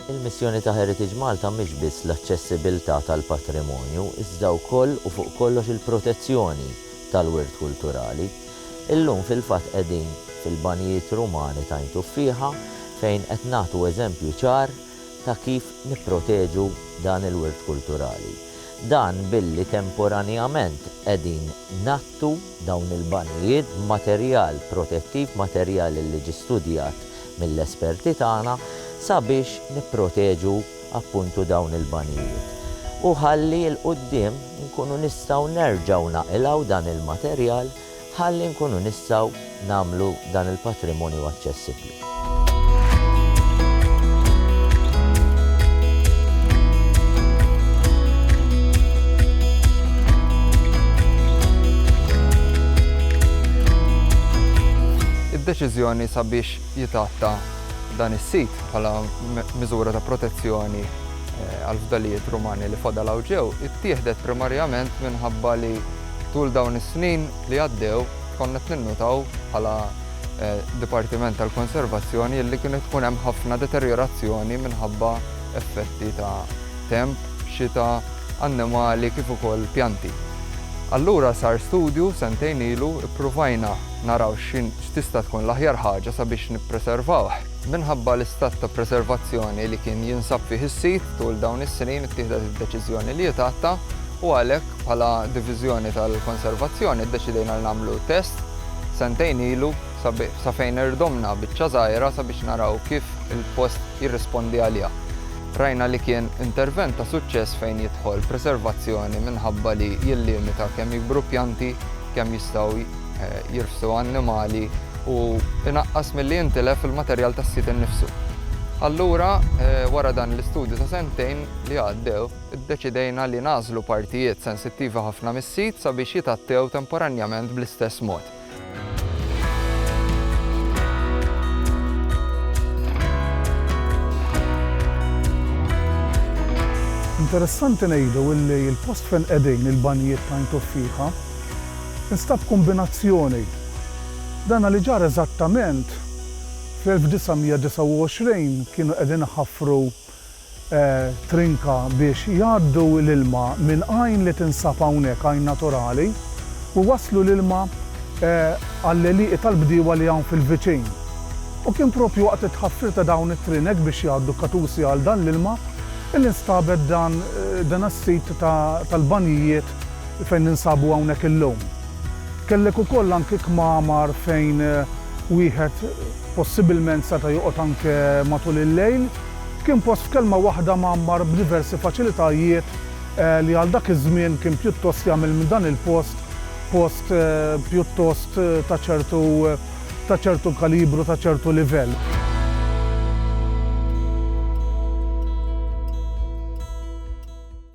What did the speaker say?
Il-missjoni ta' Heritage Malta mhix biss l-aċċessibbiltà tal-patrimonju, iżda wkoll u fuq kollox il-protezzjoni tal-wirt kulturali. Illum fil-fatt qegħdin fil-banjijiet Rumani t'Għajn Tuffieħa fejn qed nagħtu eżempju ċar ta' kif nipproteġu dan il-wirt kulturali. Dan billi temporanjament qegħdin ngħattu dawn il-banjijiet b'materjal protettiv, materjal li ġie studjat mill-esperti tagħna sabiex nipproteġu appuntu dawn il-banjijiet. U ħalli 'l quddiem inkunu nistgħu nerġgħu naqilgħu dan il-materjal ħalli nkunu nistgħu nagħmlu dan il-patrimonju aċċessibbli. Id-deċiżjoni sabiex jitgħatta dan is-sit bħala miżura ta' protezzjoni għall-fdalijiet Rumani li fadal hawn ġew ittieħdet primarjament minħabba li Tul dawn is-snin li għaddew konna qed ninnutaw bħala Dipartiment tal-Konservazzjoni illi kienet tkun hemm ħafna deterjorazzjoni minħabba effetti ta' temp, xita, annimali kif ukoll pjanti. Allura sar studju sentejn ilu, ippruvajna naraw x'tista' tkun l-aħjar ħaġa sabiex nippreservawh. Minħabba l-istat ta' preservazzjoni li kien jinsab fih is-sit tul dawn is-snin ittieħdet id-deċiżjoni li jitgħatta u għalhekk bħala Diviżjoni tal-Konservazzjoni ddeċidejna li nagħmlu test sentejn ilu sa fejn irdomna biċċa żgħira sabiex naraw kif il-post jirrispondi għaliha. Rajna li kien intervent ta' suċċess fejn jidħol preservazzjoni minħabba li jillimita kemm jikbru pjanti, kemm jistgħu jirfsu annimali u inaqqas milli jintilef il-materjal tas-sit innifsu. Allura, wara dan l-istudju ta' sentejn li għaddew, iddeċidejna li nagħżlu partijiet sensittivi ħafna mis-sit sabiex jitgħattew temporanjament bl-istess mod. Interessanti ngħidu li l-post fejn qegħdin il-banjijiet ta' Għajn Tuffieħa, instab kombinazzjoni. Dana li ġara eżattament fl-1929 kienu qegħdin iħaffru trinka biex jgħaddu l-ilma minn għajn li tinsab hawnhekk, għajn naturali, u jwasslu l-ilma għall-għelieqi tal-bdiewa li hawn fil-viċin. U kien propju waqt it-tħaffir ta' dawn it-trinek biex jgħaddu katusi għal dan l-ilma li nstabet dan dan is-sit tal-banjijiet fejn ninsabu hawnhekk illum. Kellek ukoll anke kmamar fejn wieħed possibilment seta' joqgħod anke matul il-lejl. Kien post f'kelma waħda mgħammar b'diversi faċilitajiet li għal dak iż-żmien kien pjuttost jagħmel minn dan il-post post pjuttost ta' ċertu ta' ċertu kalibru, ta' ċertu livell.